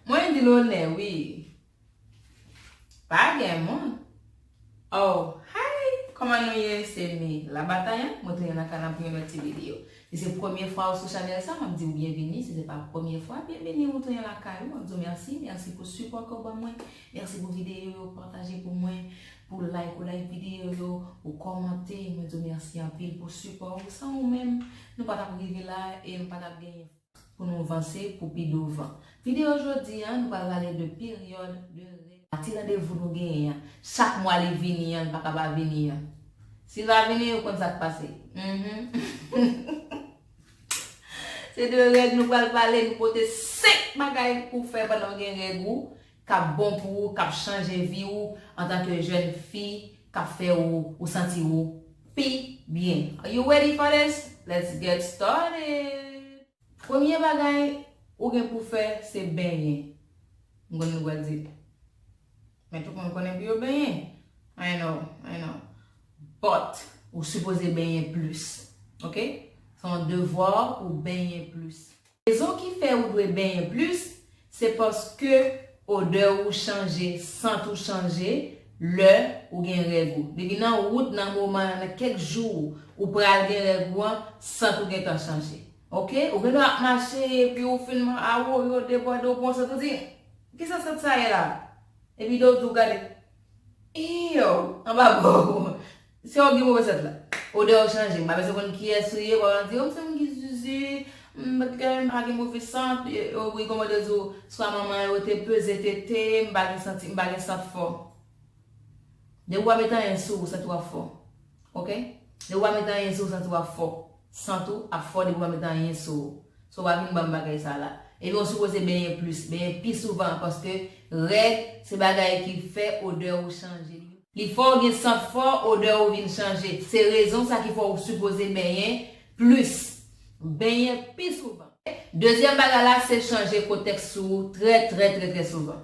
Mwen di lonè wi. Pa gen moun. Oh hi kòman nou ye se me la bataille mwen tounen nan kanal pou yon lòt ti video si se premye fwa ou sou chanèl sa map diw byenvini si se pa premye fwa byenvini ou tounen lakay ou map diw mèsi mèsi pou sipò ke ou ban mwen mèsi pou video yo pataje pou mwen pou like ou like video yo ou kòmante mwen diw mèsi anpil pou sipò ou san ou menm nou pa tap rive la e nou pa tap genyen. Pou nou vanse pou pi douvan. Video jodi a nou pral pale de peryod de règ. A ti randevou nou genyen an chak mwa li vini an li paka pa vini an. Si l pa vini ou konn sak pase. Uhmm. Se de règ nou pral pale nou pote 5 bagay pou w fè pandan w gen règ ou kap bon pou ou kap chanje vi ou antanke jèn fi kap fè ou ou santi ou pi byen are you ready for this let's get started premye bagay ou gen pou fè se benyen m konnen nou pral di men tout moun konnen pou yo benyen i know i know but ou sipoze benyen plis ok se yon devwa pou w benyen plis. Rezon ki fè ou dwe benyen plis, se paske odè ou chanje, sant ou chanje, lè ou gen règ ou. Depi nan wout nan moman an, nan kèk jou ou pral gen règ ou an, sant ou gentan chanje. Ok. Ou gendwa ap mache epi ou fin man a wou yo debòde ou pran sant ou di, kisa sant sa ye la? Epi do ou di ou gade, eww, anba bò ou, Se yo ki gen move sent la. Odè yo chanje. M pa bezwen konn kiyès ou ye, wap di, oh m se moun ki zuzu, m pa gen m pa gen move sant, oh wi kòman yo di w swa manman yo te peze tete, m pa gen santi m pa gen sant fò. Depi w pa met anyen sou ou santi wap fò. Ok. Depi w pa met anyen sou ou santi wap fò. Sant ou ap fò depi w pa met anyen sou ou. So w pa vin ban m bagay sa la. Epi w sipoze benyen plis, benyen pi souvan paske règ se bagay ki fè odè ou chanje. Li fè w gen sant fò, odè ou vin chanje. Se rezon sa ki fè w sipoze benyen plis, benyen pi souvan. Dezyèm bagay la se chanje kotèks sou ou trè trè trè trè souvan.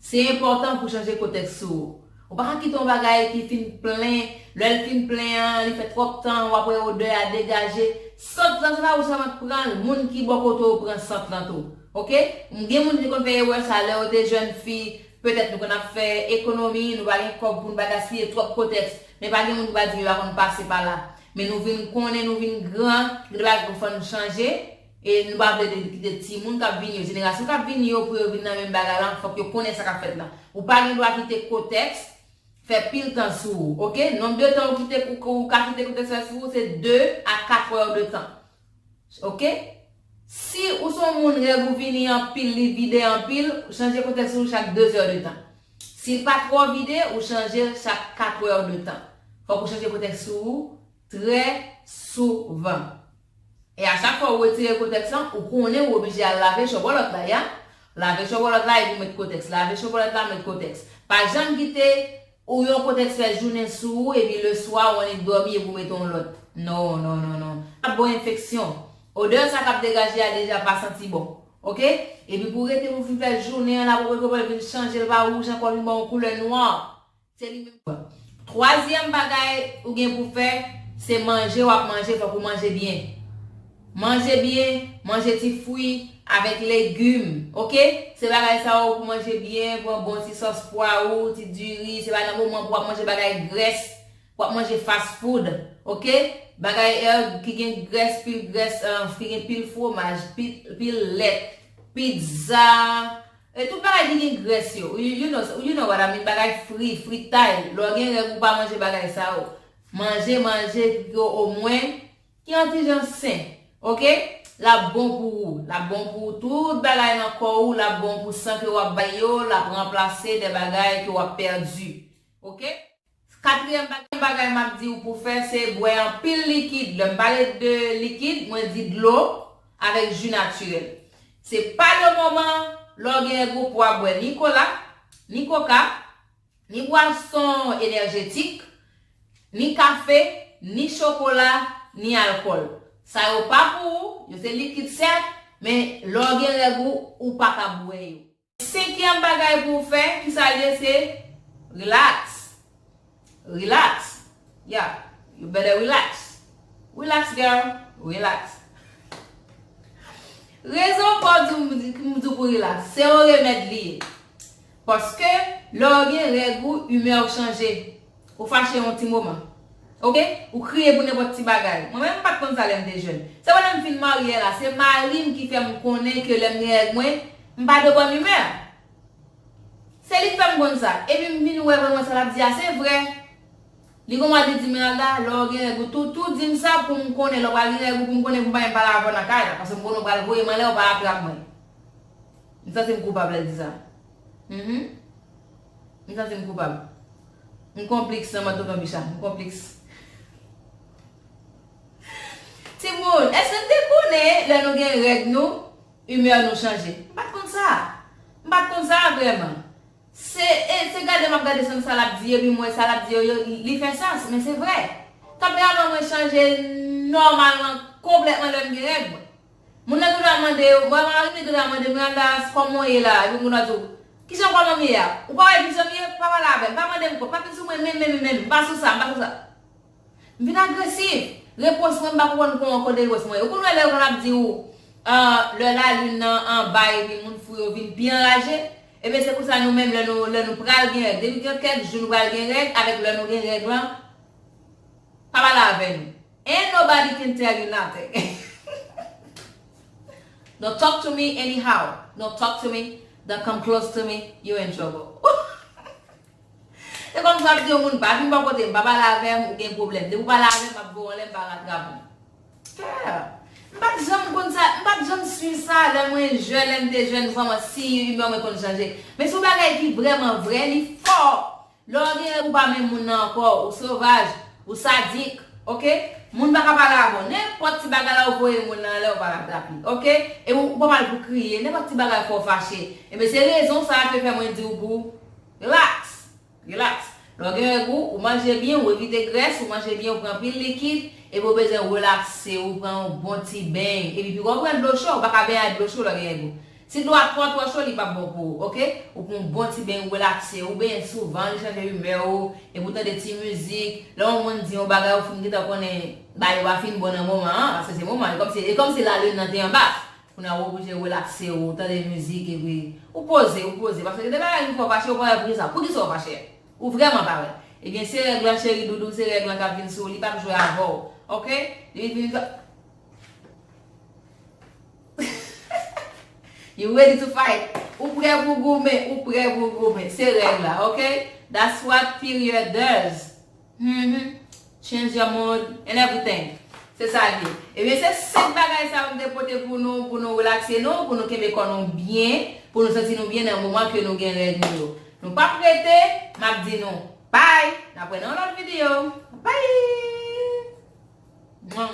Se enpòtan pou chanje kotèks ou. Ou pa ka kite yon bagay ki fin plen, lè l fin plen an, li fè twòp tan, w ap wè odè a degaje. Sant lan se pa ou sèlman k pran l, moun ki bò kote w pran sant lan tou. Ok. M gen moun ki te konn fè erè sa a lè yo te jèn fi. Petèt nou konn ap fè ekonomi, nou pa gen kòb pou n pa gaspiye twòp kotèks. Men pa gen moun ki va di m yo pa konn pase pa la. Men nou vin konnen, nou vin gran, gen bagay k fò n chanje. E nou pa vle kite timoun k ap vini yo, jenerasyon k ap vini yo pou yo vin nan menm bagay lan, fòk yo konnen sa k ap fèt lan. Ou pa gen dwa kite kotèks fè pil tan sou ou, ok? Nonb de tan ou kite ou ka kite kotèks fè sou ou se 2 a 4 wè ou de tan, ok? Si ou se yon moun règ ou vini anpil, li vide anpil, chanje kotèks ou chak 2 zè de tan. Si l pa twò vide, ou chanje l chak 4 wè ou de tan. Fòk ou chanje kotèks sou ou trè souvan. E a chak fwa ou retire kotèks lan, ou konnen ou oblije al lave chòbòlòt la ya. Lave chòbòlòt la epi met kotèks. Lave chòbòlòt la met kotèks. Pa janm kite ou yon kotèks fè jounen sou ou epi le swa ou annik dòmi epi ou mete yon lòt. Non, non, non, non. Sa bon enfeksyon. Odè sa k ap degaje a deja pa santi bon. Ok? Epi pou rete pou fin fè jounen an la pou pwèl vin chanje l pa wouj ankò vin ba w yon koulè nwa. Se li menm tou. Twazyèm bagay ou gen pou fè, se manje w ap manje fòk ou manje byen. Manje byen, manje ti fwi avèk legim ok. Se bagay sa yo pou manje byen, pran bon ti sòs pwa ou, ti diri, se pa nan moman pou w ap manje bagay grès, pou w ap manje fast food ok. Bagay erg ki gen grès, pil grès, ki gen pil fwomaj, pil lèt, pizza. E tout bagay ki gen grès yo, you you know you know what I mean bagay fri, fritay, lè w gen règ ou pa manje bagay sa yo. Manje manje yo omwen ki yon ti jan sen. Ok? L ap bon pou ou. L ap bon pou tout bagay nan kò ou, l ap bon pou san ke w ap bay yo, l ap ranplase de bagay ke w ap pèdi. Ok? Katriyèm bagay m ap di w pou w fè se bwè anpil likid. Lè m pale de likid, mwen di dlo avèk ji natirèl. Se pa le moman lè w genyen gwo pwa bwè ni kola, ni koka, ni bwason enèjetik, ni kafe, ni chokola, ni alkòl. Sa yo pa pou ou, yo se likid sèt, men lè w gen règ ou, ou pa ka bwè yo. Senkyèm bagay pou w fè, ki sa l ye? Se relax. Relax. Yeah. You better relax. Relax girl. Relax. Rezon pou m di w pou w relax, se yon remèd li ye. Paske, lè w gen règ ou, imè w chanje. Ou fache yon ti moman. Ok. Ou kriye pou nenpòt ti bagay. Mwen menm m pat konn sa lè m te jèn. Se wè lè m fin marye la, se mari m ki fè m konnen ke lè m gen règ mwen, m pa de bòn imè. Se li k fè m konn sa. Epi m vin wè vreman sa l ap di a se vre. Li gon mwa li di m, Meralda, lè w gen règ ou tou, tou di m sa pou m konnen lè w pral gen règ ou pou m konnen pou m pa menm pale avè w nan kay la. Paske m konnen w pral voye m anlè, w pa atrap mwen. M santi m koupab lè l di sa. Mph m santi m koupab M konpliks nan mòd tonton Bicha M konpliks Timoun èske n te konnen lè nou gen règ nou imè nou chanje M pat konn sa M pat konn sa vrèman Se e se gade m ap gade san sa l ap di epi m wè sa l ap di yo yo li fè sans men se vrè Tanperaman mwen chanje nòmalman konplètman lè m gen règ mwen Moun nan tou la mande yo, mwen mari li tou la mande Miranda kòman w ye la epi moun nan di w kijan kòman m ye a ou pa wè vizyon m ye pa pale avè m pa mande m kont pa vin sou mwen menm menm menm m pa sou sa m pa sou sa m vin agresiv repons mwen m pa konprann kon an kote repons mwen ye ou konn wè lè yo konn ap di ou lè lalin nan anba epi moun fou yo vin pi anraje ebyen se konsa nou menm lè nou lè nou pral gen règ depi gen kèk jou nou pral gen règ avèk lè nou gen règ lan pa pale avè nou. Ain't nobody can tell you nothing Don't talk to me anyhow Don't talk to me Don't come close to me You in trouble Se kòm si w ap di yon moun pa vin bò kote m, pa pale avè m, ou gen pwoblèm. Depi w pale avè m, m ap gou anlè, m pa ratrap ou. Pè! M pa t janm konn sa, m pa t janm swiv sa lè mwen jèn, lè m te jèn vrèman, si imè mwen konn chanje. Men se yon bagay ki vrèman vrè, li fò! Lè w gen règ ou pa menm moun nan ankò, ou sovaj, ou sadik, ok. Moun pa ka pale avè w. Nenpòt ti bagay la ou voye moun lan anlè ou pa la rapi, ok. E ou pa mal pou kriye, nenpòt ti bagay fè w fache. Enben se rezon sa a ke fè mwen di w pou w relaks, relaks. Lè w gen règ ou, ou manje byen, ou evite grès, ou manje byen, ou pran anpil likid, epi ou bezwen relakse, ou pran yon bon ti beny, epi pi wè ou pran dlo cho, ou pa ka benyen ak dlo cho lè w gen règ ou. Si dlo a twò twò cho li pap bon pou ou ok ou pran yon bon ti beny ou relakse ou benyen souvan li chanje imè ou epi ou tande ti mizik lè yon moun di yon bagay ou fin gentan konnen bagay yo pa fin bon nan moman an paske se moman e kòmsi lalin nan te anba kounye a ou oblije relakse ou tande mizik epi ou poze ou poze paske gen de bagay ki fè ou fache ou pa wè poukisa poukisa ou fache ou vrèman pa wè ebyen se règ lan cheri doudou se règ lan kap vin sou ou li pap jwe avèw ok li vin fè. You ready to fight? Ou prè pou w goumen, ou prè pou w goumen. Se règ la, ok? That's what period does. Humm. Change your mood and everything. Se sa l ye. Ebyen se 5 bagay sa yo m te pote pou nou, pou nou relakse nou, pou nou kenbe kò nou byen, pou nou santi nou byen nan moman ke nou gen règ nou yo. Nou pa p rete, m ap di nou bye! N ap wè nan yon lòt videyo. Bye!